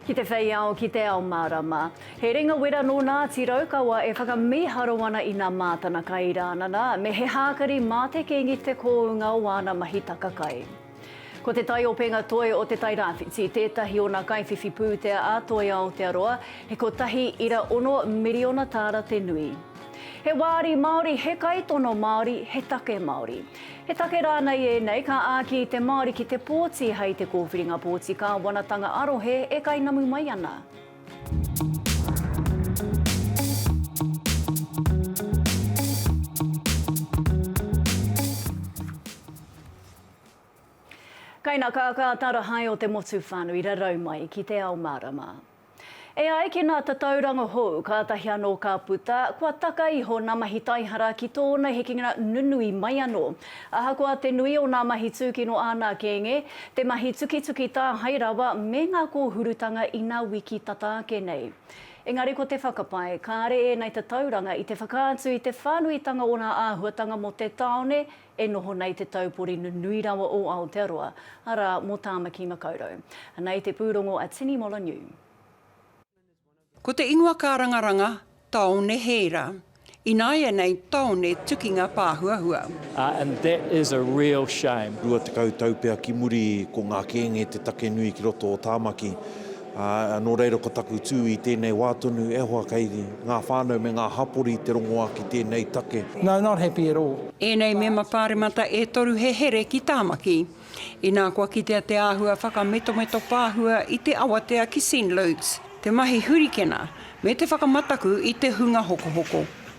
Ki te whei ao, ki te ao mārama. He ringa wera nō Ngāti Raukawa e whakamīharo ana i nā mātana kai rānana, me he hākari mā te kīngi te kōunga o āna mahi taka kai. Ko te taiopenga toi o Te Tai Rāwhiti tētahi o nā kaiwhiwhi pūtea a Toi Aotearoa, he kotahi ira ono miriona tāra te nui. He wāri Māori, he kaitono Māori, he take Māori. He take rānei ēnei ka āki i te Māori ki te pōti hei te kōwhiringa pōti kāwanatanga arohe e kainamu mai ana. Kaina kākāta rahae o te motu whānui rarau mai ki te ao mārama. E ai ki nā Tatauranga hou, kātahi anō ka puta, kua taka iho nā mahi taihara ki tōna hekenga nunui mai anō. Ahakoa te nui o nā mahi tūkino āna kēnge, te mahi tukituki tāhae rawa me ngā kōhurutanga ina wiki tata ake nei. Engari ko te whakapae, kāre ēnei tatauranga i te whakaatu i te whānuitanga o nā āhuatanga mō te tāone e noho nei te taupori nunui rawa o Aotearoa, arā, mō Tāmaki Makaurau. Anā i te pūrongo a Tini Moloney. Ko te ingoa kārangaranga, Taone Heira. Ināianei taone tukinga pāhuahua. And that is a real shame. Rua tekau tau pea ki muri ko ngā kēnge te take nui ki roto o Tāmaki. Ā, nō reira ko taku tū i tēnei wā tonu e hoa kei ngā whānau me ngā hapori te rongoā ki tēnei take. No, not happy at all. Ēnei mema pāremata e toru he here ki Tāmaki. Inā kua kitea te āhua whakametometo pāhua i te awatea ki Send Loads, te mahi hurikena, me te whakamataku i te hunga hokohoko.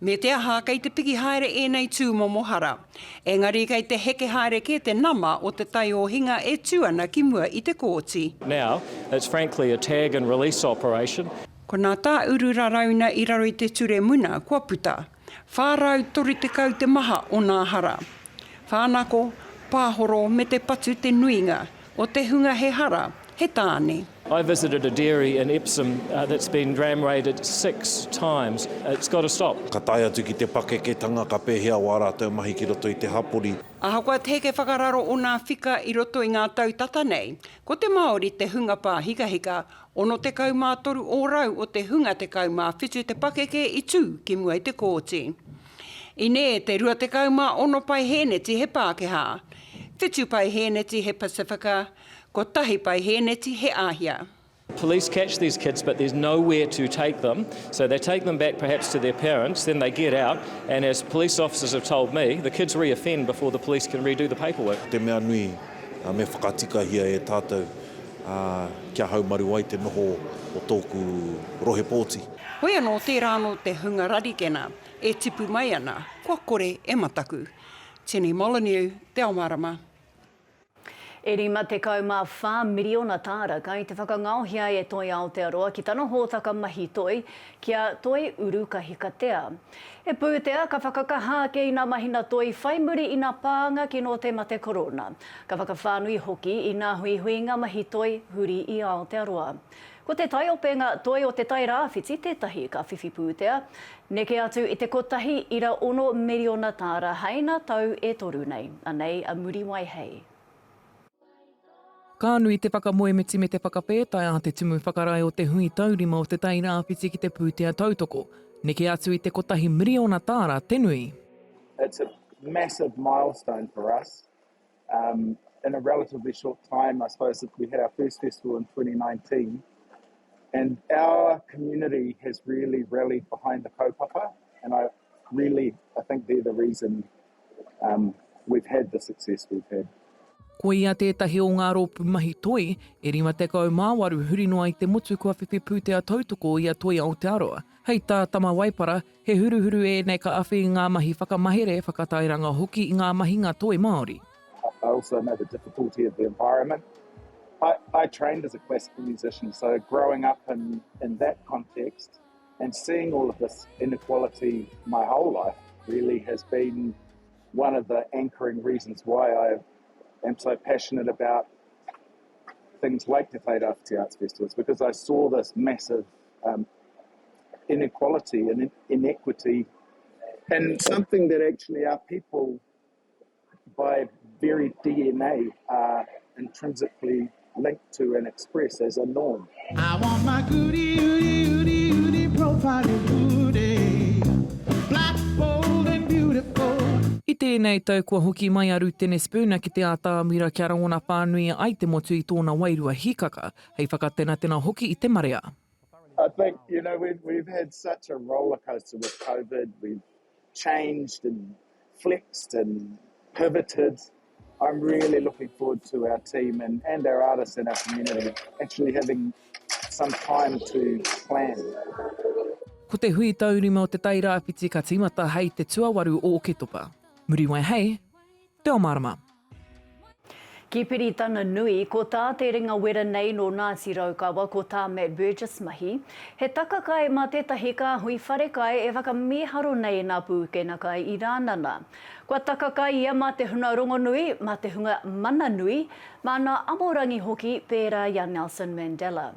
Me te aha, kei te piki haere ēnei tūmomo hara. Engari kei te heke haere kē te nama o te taiohinga e tū ana ki mua i te kōti. Now, it's frankly a tag and release operation. Ko nā Tā Uru Rarauna i raro i te ture muna kua puta, 430 te maha o nā hara. Whānako, pāhoro me te patu te nuinga o te hunga he hara, he tāne. I visited a dairy in Epsom that's been ram raided six times. It's got to stop. Ka tae atu ki te pakeketanga ka pēhea wā rātou mahi ki roto i te hapori. Ahakoa te heke whakararo o nā whika i roto i ngā tau tata nei, ko te Māori te hunga pāhikahika, 63 ōrau o te hunga 17 te pakeke i tū ki mua i te kōti. I nē te 26 paihēneti he Pākehā, 7 paihēneti he Pasifika, Kotahi pae hēneti he āhia. Police catch these kids but there's nowhere to take them so they take them back perhaps to their parents then they get out and as police officers have told me the kids re-offend before the police can redo the paperwork. Te mea nui, me whakatikahia e tātou kia haumaru ai te noho o tōku rohe pōti. Hoi anō tērā anō te hunga rarikena e tipu mai ana, kua kore e mataku. Jenny Molyneux, Te Ao Mārama. E 54 miriona tāra kai te whakangaohia e Toi Aotearoa ki tana hōtaka mahi toi, ki a Toi Uru Kahikatea. He pūtea ka whakakaha ake ina mahina toi whai muri ina pānga kino te mate korona, ka whakawhānui hoki ina huihuinga mahi toi huri i Aotearoa. Ko te taiopenga toi o te tai rāwhiti tētahi ka whiwhi pūtea, neke atu i te kotahi ira ono miriona tāra haina tau e toru nei. Anei a Muriwai hei. Ka nui te whakamoemiti me te whakawhētai a te Tumu Whakarae o te Hui Taurima o te Tai Rāwhiti ki te pūtea tautoko, neke atu i te kotahi miriona tāra te nui. It's a massive milestone for us Um, in a relatively short time, I suppose that we had our first festival in 2019, and our community has really rallied behind the kaupapa, and I really, I think they're the reason um, we've had the success we've had. Ko ia tētahi o ngā rōpū mahi toi, e 58 huri noa i te motu kua whiwhi pūtea tautoko i a Toi Aotearoa. Hei tā Tama Waipara, He huruhuru ēnei ka awhi i ngā mahi whakamahere, whakatairanga hoki i ngā mahinga toi Māori. I also know the difficulty of the environment. I I trained as a classical musician so growing up in in that context and seeing all of this inequality my whole life really has been one of the anchoring reasons why I am so passionate about things like Te Whai Rāwhiti Arts Festivals because I saw this massive um, inequality and inequity, and something that actually our people, by very DNA, are intrinsically linked to and express as a norm. I want my goody, goody, goody, goody profile goody. Black, bold and beautiful. I tēnei tau kua hoki mai a Rutene Spooner ki te ātāmira kia rangona pānuia ai te motu i tōna wairua hikaka. hei whakatenatena hoki i te marea. I think, you know, we've, we've had such a roller coaster with COVID, we've changed and flexed and pivoted. I'm really looking forward to our team and, and our artists and our community actually having some time to plan. Ko te hui taurima o Te Tai Rāwhiti ka tīmata hei te tuawaru o Oketopa. Muriwai hei Reo Mārama. Ki Piritana Nui, ko tā Te Ringawera nei nō Ngāti Raukawa, ko tā Matt Burgess mahi, he taka kai mā tētahi kāhui wharekai e whakamīharo nei i ngā pūkenga kai i Rānana. Kua taka kai ia mā te hunga rongonui, mā te hunga mana nui, mā ngā amorangi hoki, pērā i a Nelson Mandela.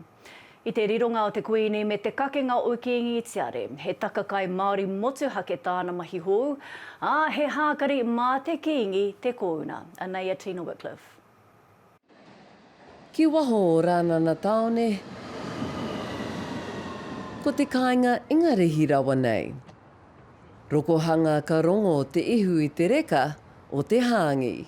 I te rironga o te Kuini me te kakenga o Kīngi Tiare, he takakai Māori motuhake tāna mahi hou, ā, he hākari mā te Kīngi te kōuna. Anei a Tina Wickliffe. Ki waho o Rānana Tāone Ko te kāinga Ingarihi rawa nei Rokohanga Ka rongo te ihu i te reka o te hāngī.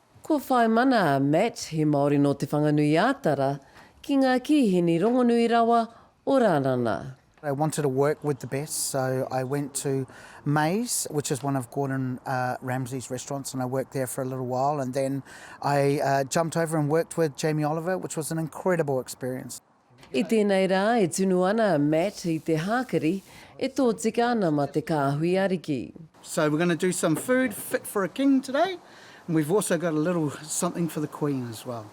Ko Whaimana a Matt, he Māori nō Te Whanganui-ā-Tara, ki ngā kīhini rongonui rawa o Rānana. I wanted to work with the best so I went to May's which is one of Gordon Ramsay's restaurants and I worked there for a little while and then I jumped over and worked with Jamie Oliver which was an incredible experience. I tēnei rā e tunu ana a Matt i te hākari e tōtika ana mā te kāhui ariki. So we're gonna do some food fit for a king today and we've also got a little something for the queen as well.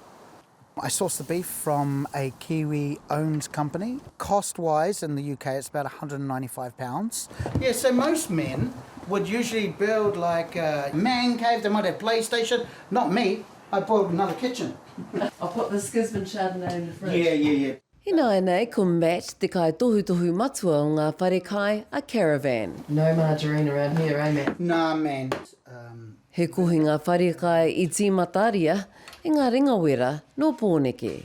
I source the beef from a Kiwi owned company. Cost wise in the UK it's about one hundred and ninety five pounds. Yeah so most men would usually build like a man cave, they might have playstation, not me, I boiled another kitchen. I'll put this Gisborne Chardonnay in the fridge. Yeah, yeah, yeah. Ināianei ko Matt te kaitohutohu matua o ngā wharekai a Caravan. No margarine around here, eh Matt? Nah man, um. He kohinga wharekai i tīmataria e ngā ringawera nō Pōneke.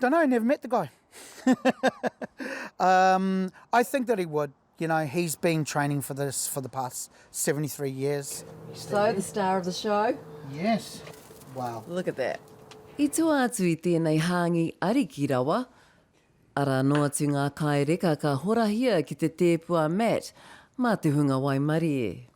Don't know, never met the guy. um, I think that he would. You know, he's been training for this for the past 73 years. So, the star of the show? Yes. Wow. Look at that. I tua atu i tēnei hāngi ariki rawa, ara anō atu ngā kāi reka ka horahia ki te tēpu a Matt mā te hunga waimarie.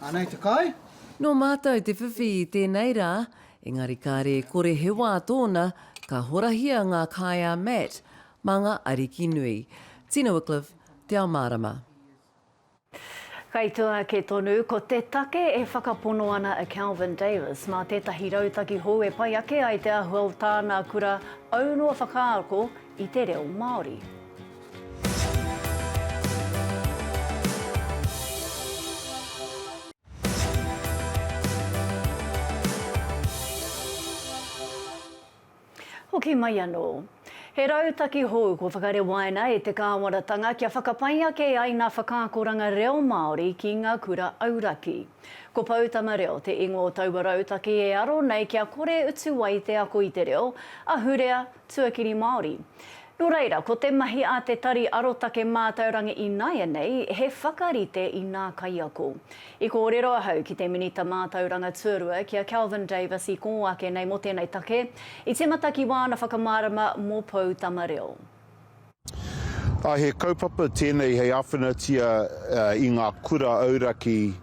Anei te kai. Nō mātou te whiwhi i tēnei rā, engari kāre e kore he wā tōna, ka horahia ngā kai a Matt, mā ngā ariki nui. Tina Wickliffe, Te Ao Mārama. Kei tua ake tonu, ko te take e whakapono ana a Kelvin Davis, mā tētahi rautaki hou e pai ake ai te āhua o tāna kura aunoa whakaako i te reo Māori. Hoki mai anō. He rautaki hou kua whakarewaina e te Kāwanatanga kia whakapai ake ai ngā whakaakoranga reo Māori ki ngā kura auraki. Ko Poutama Reo te ingoa o taua rautaki e aro nei kia kore utu ai te ako i te reo, ahurea, tuakiri Māori. Nō reira, ko te mahi a te Tari Arotake Mātaurangi ināianei he whakarite i ngā kaiako. I kōrero ahau ki te Minita Mātauranga Tuarua ki a Kelvin Davis i kō ake nei mō tēnei take, i tīmata ki wāna whakamārama mō Poutama Reo. He kaupapa tēnei hei āwhinatia i ngā kura auraki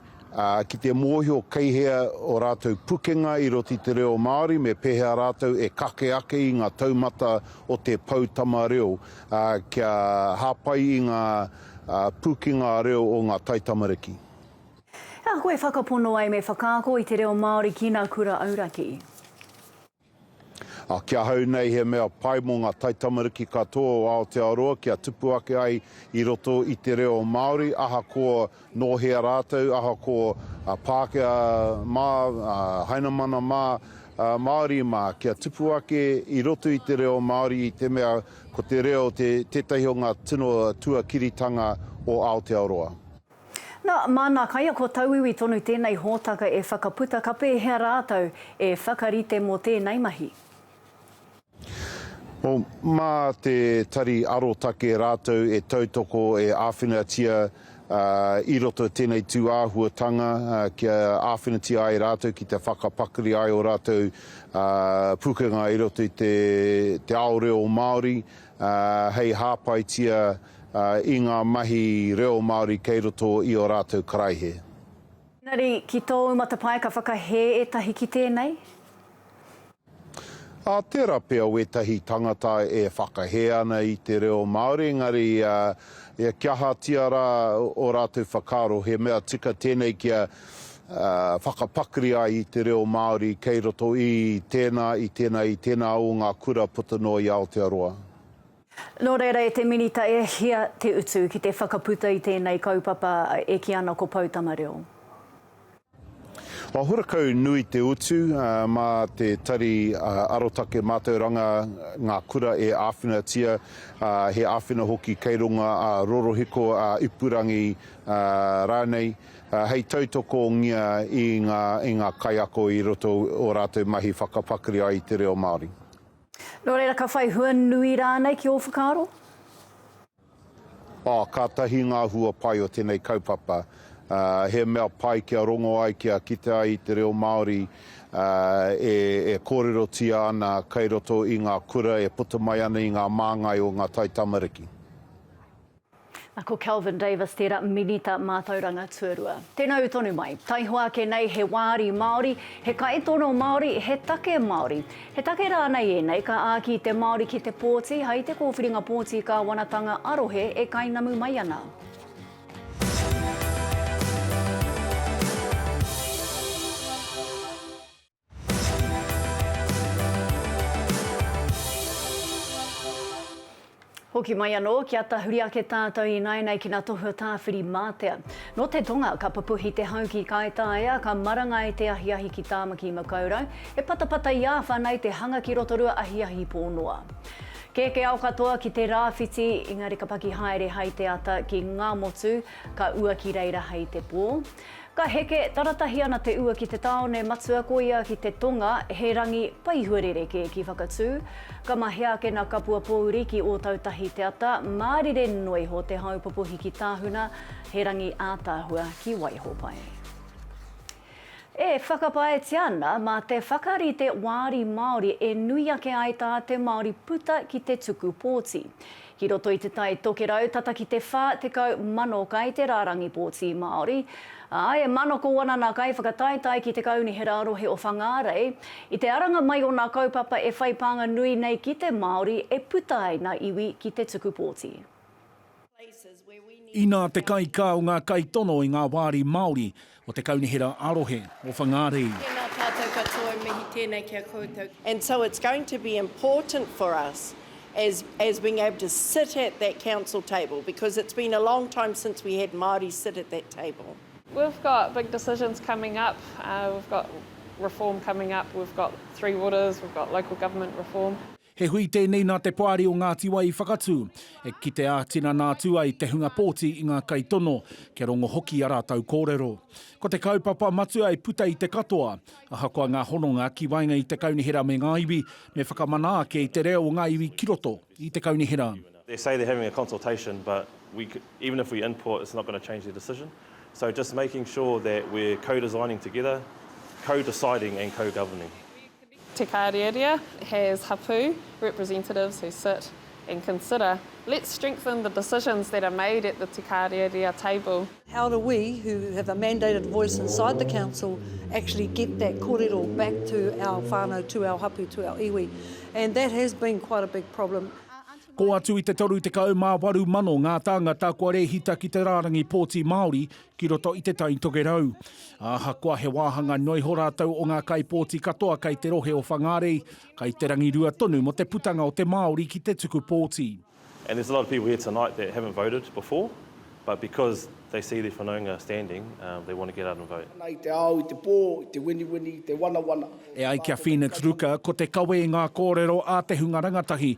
ki te mōhio kei hea o rātou pukenga i roto i te reo Māori me pēhea rātou e kake ake i ngā taumata o te poutama reo kia hāpai i ngā pūkenga reo o ngā taitamariki. Ehako e whakapono ai me whakaako i te reo Māori ki nā kura auraki. Ā, ki ahau nei he mea pai mō ngā taitamariki katoa o Aotearoa kia tupu ake ai i roto i te reo Māori, ahakoa nō hea rātou, ahakoa Pākehā mā, Hainamana mā, Māori mā, kia tupu ake i roto i te reo Māori i te mea ko te reo tētahi o ngā tino tuakiritanga o Aotearoa. Na, mā nā kaiako tauiwi tonu tēnei hōtaka e whakaputa ka pēhea rātou e whakarite mō tēnei mahi. O, mā te Tari Arotake rātou e tautoko e āwhinatia i roto i tēnei tū āhuatanga kia āwhinatia ai rātou ki te whakapakari ai o rātou pukenga i roto i te ao reo Māori hei hāpaitia i ngā mahi reo Māori kei roto i ō rātou karaihe. Engari, ki tōu matapae ka whakahē ētahi ki tēnei? Ā, tērā pea wētahi tangata e whakahē ana i te reo Māori, engari kia ahatia rā ō rātou whakaaro, he mea tika tēnei kia whakapakari ai i te reo Māori kei roto i tēnā, i tēnā, i tēnā o ngā kura puta noa i Aotearoa. Nō reira e te Minita e hia te utu ki te whakaputa i tēnei kaupapa e kī ana ko Poutama Reo? Kua hurakau nui te utu mā te Tari Arotake Mātauranga ngā kura e āwhinatia, he āwhina hoki kei runga ā rorohiko, ā ipurangi rānei, hei tautokongia i ngā kaiako i roto i ō rātou mahi whakapakari ai i te reo Māori. Nō reira, ka whai hua nui rānei ki ō whakaaro? Oh, kātahi ngā hua pai o tēnei kaupapa. He mea pai kia rongo ai, kia kite ai i te reo Māori e kōrerotia ana kei roto i ngā kura e puta mai ana i ngā māngai o ngā taitamariki. Na ko Kelvin Davis tera Minita Matauranga Tuarua. Tenau tonu mai, taihoa ake nei he waari Maori, he kaitono Maori, he take Maori. He take ranei enei ka aaki te Maori ki te pooti hai te kowhiringa pooti kawanatanga a rohe e kainamu mai ana? Hoki mai anō, kia tahuri ake tātou ināianei ki ngā tohu a Tāwhiri-mātea. Nō te tonga, ka pupuhi te hau ki Kaitaia, ka marangai te ahiahi ki Tāmaki-makau-rau, he patapata i āwhanai te hanga ki Rotorua ahiahi pō noa. Kēkē ao katoa ki te rāwhiti, engari ka paki haere hai te ata ki Ngāmotu, ka ua ki reira hai te pō. Ka heke, taratahi ana te ua ki te tāone matua ko ia ki te tonga, he rangi paihua rerekē ki Whakatū. Ka mahea ake nā Kapua Pōuri ki Ōtautahi te ata, mārire noa iho te hau popohiki tāhuna, he rangi ātaahua ki Waihopai. E whakapaetia ana mā te whakarite wāri Māori e nui ake ai tā te Māori puta ki te tuku pōti. Ki roto i Te Tai Tokerau tata ki te 40,000 kai te rārangi pōti Māori, ā, e manako ana nā kaiwhakataetae ki te Kaunihera Rohe o Whangārei i te aranga mai o nā kaupapa e whai pānga nui nei ki te Māori e puta ai nā iwi ki te tuku pōti. Inā te kaikā o ngā kaitono i ngā wāri Māori, O te Kaunihera ā-Rohe o Whangārei. Tēnā tātou katoa e mihi tēnei ki a koutou. And so it's going to be important for us as as being able to sit at that council table because it's been a long time since we had Māori sit at that table. We've got big decisions coming up, we've got reform coming up, we've got three waters, we've got local government reform. He hui tēnei nā te Poari o Ngāti Wai i whakatū, e kite ā-tinana atu ai te hunga pōti i ngā kaitono, kia rongo hoki i a rātou kōrero. Ko te kaupapa matua e puta i te katoa, ahakoa ngā hononga ki waenga i te kaunihera me ngā iwi, me whakamana ake i te reo o ngā iwi ki roto i te kaunihera. They say they're having a consultation but we even if we input it's not going to change their decision so just making sure that we're co-designing together, co-deciding and co-governing. Te Karieria has hapū, representatives who sit and consider, let's strengthen the decisions that are made at the Te Karieria table. How do we, who have a mandated voice inside the council, actually get that korero back to our whānau, to our hapū, to our iwi. And that has been quite a big problem. Kō atu i te 38 mano ngā tāngata kua rēhita ki te rārangi pōti Māori ki roto i Te Tai Tokerau. Ahakoa he wāhanga noa iho rātou o ngā kaipōti katoa kei te rohe o Whangārei, kei te rangirua tonu mō te putanga o te Māori ki te tuku pōti. And there's a lot of people here tonight that haven't voted before, but because they see their whanaunga standing, they want to get out and vote. Ana i te ao, i te pō, i te winiwini, i te wanawana. E ai ki a Phoenix Ruka, ko te kawe i ngā kōrero a te hunga rangatahi,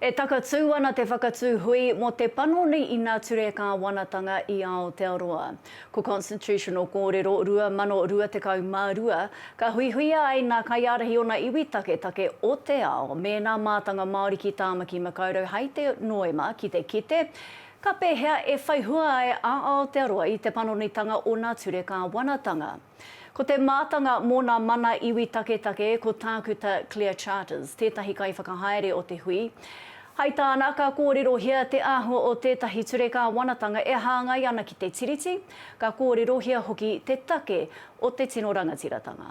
E takatū ana te whakatū hui mō te panoni ina ture kāwanatanga i Aotearoa. Ko Constitutional Kōrero 2022, ka huihuia ai nā kaiārahi ōna iwi taketake o te ao me nā mātanga Māori ki Tāmaki Makaurau hai te Noema ki te kite ka pēhea e whai hua ai a Aotearoa i te panonitanga o nā ture kāwanatanga. Ko te mātanga mō nā mana iwi taketake ko Tākuta Claire Charters, tētahi kaiwhakahaere o te hui. Hai tāna, ka kōrerohia te āhua o tētahi ture kāwanatanga e hāngai ana ki te Tiriti, ka kōrerohia hoki te take o te tino rangatiratanga.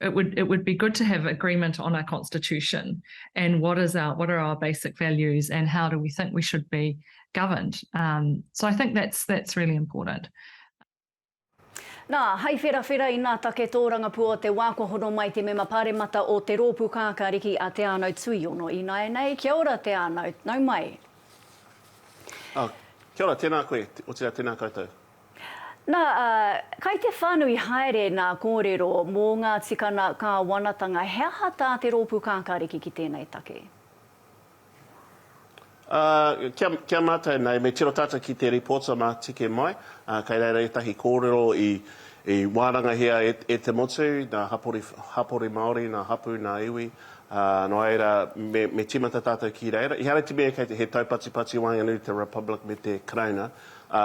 It would it would be good to have agreement on our constitution and what is our what are our basic values and how do we think we should be governed. Um, so I think that's that's really important. Nā, hai wherawhera i nā take tōrangapua o te wā kua hono mai te mema pāremata o te rōpū kākāriki a Te Anau Tuiono Inaenei. Kia ora Te Anau, nau mai. Uh, kia ora, tēnā koe, otirā tēnā koutou. Na, kai te whanui haere na korero mo nga tikana kawanatanga, he aha ta te ropu kakariki ki tenei take? A, kia, kia matou nei, me tiro tatou ki te reports a Matike mai, a, kai reira etahi korero i, i warangahia e, e te motu, na hapori, hapori Maori, na hapu, na iwi, a, no reira, me, me timata tatou ki reira. Ihara te mea kei te, he taupatipati waenganui i te Republic me te Karauna, Ā,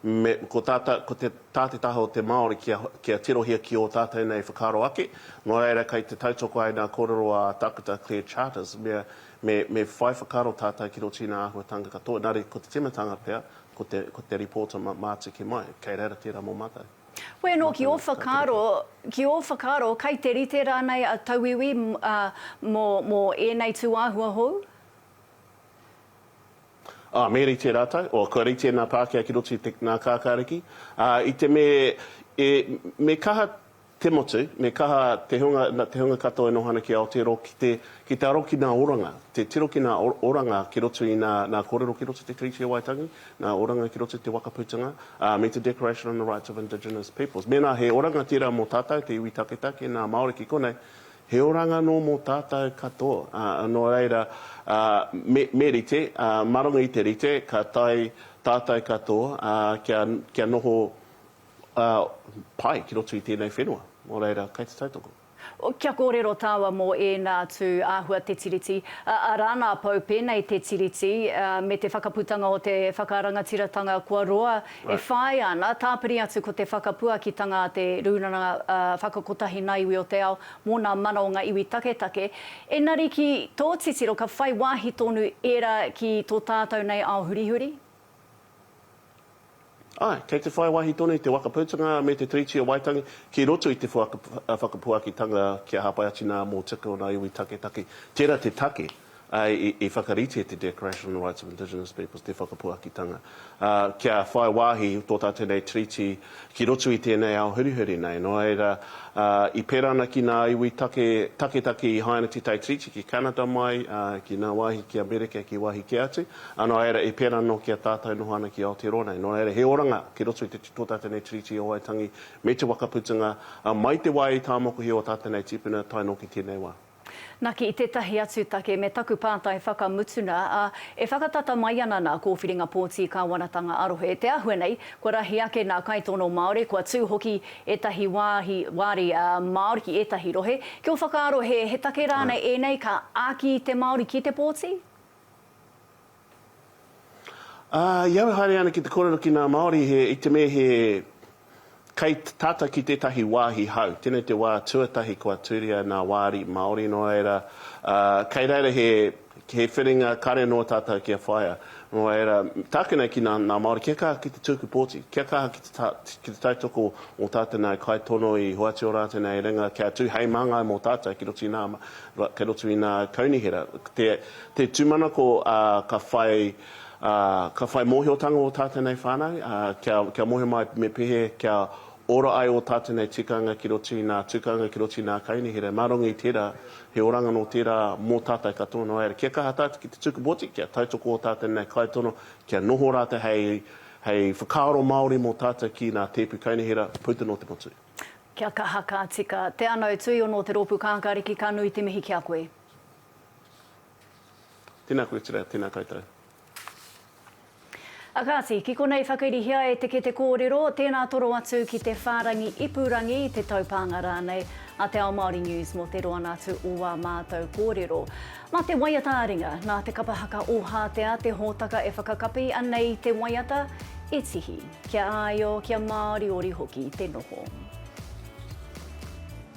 me, ko tā, ko te, tā te taha o te Māori kia, kia tirohia ki ō tātou nei whakaaro ake, nō reira kei te tautoko ai ngā kōrero a Tākuta Claire Charters, me, me, me whai whakaaro tātou ki rō tīna āhuatanga katoa, engari ko te timatanga pea, ko te, ko te Reporter ma, mā tiki mai. Kei reira tērā mō mātou. Hoi anō ki ō whakaaro, ki ō whakaaro kei te rite rānei a tauiwi, ā, mō, mō ēnei tūāhua hou? Ā, me rite rātou, ā, kua rite nā Pākehā ki roto i te, ngā kākāriki, ā, i te me, e, me kaha te motu, me kaha te hunga, nā, te hunga katoa e noho ana ki Aotearoa ki te, ki te aro ki nā oranga, te tiro ki nā o, oranga ki roto i nā, nā kōrero ki roto i te Treaty o Waitangi, nā oranga ki roto i te Waka Putanga, ā, me te Declaration on the Rights of Indigenous Peoples. Mēnā he oranga tērā mō tātou, te iwi taketake, nā Māori ki konei, He oranga nō mō tātou katoa, ā, nō reira, ā, me, me rite, ā, mā runga i te rite, ka tae tātou katoa, ā, kia, kia noho, ā, pai ki roto i tēnei whenua. Nō reira, kei te tautoko. Kia kōrero tāua mō ēnā atu āhua te Tiriti, ā, rā nā Pou pēnei te Tiriti, ā, me te whakaputanga o te whakarangatiratanga kua roa E whāia ana, tāpiri atu ko te whakapuakitanga a te Rūnanga Whakakotahi Nā Iwi o te Ao mō nā mana o ngā iwi taketake, engari ki tō titiro ka whai wāhi tonu ērā ki tō tātou nei ao hurihuri? Āe, kei te whai wāhi tonu te Waka Putanga me te Tiriti o Waitangi ki roto i te whakapuakitanga kia hāpai atu nā mōtika o ngā iwi taketake. Tērā te take. I whakaritea te Declaration on the Rights of Indigenous Peoples, te Whakapuakitanga, kia whai wāhi tō tātou nei treaty ki roto i tēnei ao hurihuri nei. Nō reira, i pērā ana ki ngā iwi taketake i haina Te Tai Treaty ki Canada mai, ki ngā wāhi ki Amerika, ki wāhi kē atu, ā, nō reira, i pērā anō ki a tātou noho ana ki Aotearoa nei. Nō reira, he oranga ki roto i tō tātou nei treaty o Waitangi me te whakaputunga mai te wā i tāmokuhia ō tātou nei tīpuna tae noa ki tēnei wā. Naki i tētahi atu take me taku pātai whakamutuna, ā, e whakatata mai ana nā Kōwhiringa Pōti Kāwanatanga ā-Rohe te āhua nei kua rahi ake nā kaitono Māori, kua tū hoki ētahi wāhi wāri Māori ki ētahi rohe. Ki ō whakaaro he take rānei ēnei ka āki te Māori ki te pōti? Ā, i au e haere ana ki te kōrero ki ngā Māori he, i te me he kei tātou ki tētahi wāhi hau. Tēnei te wā tuatahi kua tūria nā Wāri Māori, nō reira, ā, kei reira he, he whiringa kare nō tātou kia whaia. Nō reira, tāku nei ki ngā, ngā Māori, kia kaha ki te tūku pōti, kia kaha ki te ta, ki te tautoko o tā te nāi kaitono i hoatu ora atu nei ringa kia tū hei māngai mō tātou ki roto i nā, kei roto i nā kaunihera. Te. Te tūmanako ka whai ka whai mōhiotanga ō tātou nei whānau kia mohe mai me pehe kia ora ai ō tātou nei tikanga ki roto i nā tukanga ki roto i nā kaunihera mā runga i tērā he oranga nō tērā mō tātou katoa nō reira kia kaha tātou ki te tuku poti kia tautoko ō tātou nei kaitono kia noho rātou hei hei whakaaro Māori mō tātou ki nā tēpu kaunihera puta nō te motu. Kia kaha ka tika. Te Anau Tuiono o te Rōpū Kākāriki ka nui te mihi ki a koe. Tēnā koe Tira, tēnā koutou. A kāti, ki konei whakairihia e te kete kōrero, tēnā toro atu ki te whārangi ipurangi, te taupānga rānei a Te Ao Māori News mō te roanga atu o wā mātou kōrero. Mā te waiata a ringa, nā Te Kapa Haka Ōhātea te hōtaka e whakakapi ana i te waiata, i tihi, kia āio, kia māoriori hoki te noho.